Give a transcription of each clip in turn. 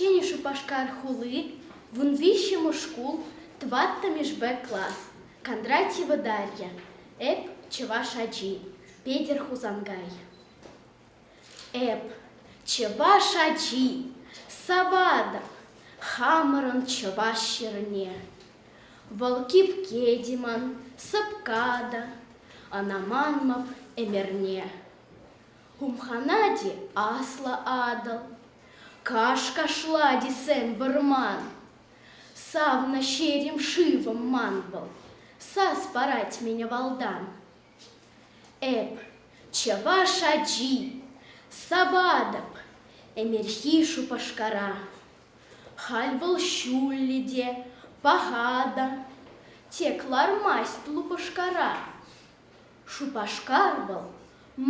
Ҫӗнӗ Шупашкар хули, вун виҫҫӗмӗш шкул, тӑваттӑмӗшпе класс, Кондратьева Дарья, эп чӑваш ачи, Петӗр Хусанкай. Эп, чӑваш ачи, Савада, хамӑрӑн чӑваш ҫӗрне. Вӑл кипке Диман, сӑпка та, Ӑна манмӑп ӗмӗрне. Хумханати аслӑ Атӑл, Каш-кашлати сӗм вӑрман, Савнӑ ҫерем шывӑм ман вӑл, Сас парать мине валтан. Эп чӑваш ачи, Саватӑп ӗмерхи Шупашкара. Халь вӑл ҫуллӗ те, паха та, Тек лармасть лупӑшкара. Шупашкар вӑл,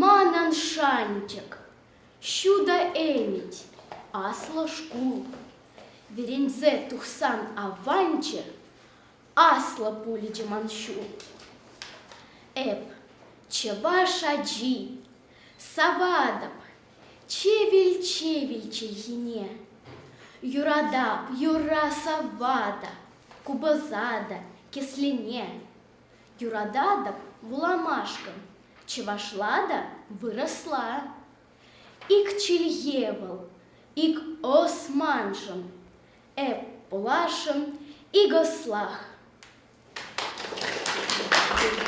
манӑн шанчӑк. Ҫутӑ ӗмӗт, аслӑ шкул. Вӗренсе тухсан аванччӗ, аслӑ пулчӗ ман ҫул. Эп, чӑваш ачи, саватӑп чевел-чевел чӗлхине. Юратап юра савата, купӑса та кӗслене. Юрататӑп вуламашкӑн, чӑвашла та вырӑсла. Ик чӗлхе вӑл, ик Османшӑн, эп пулашӑм ик ӑслах.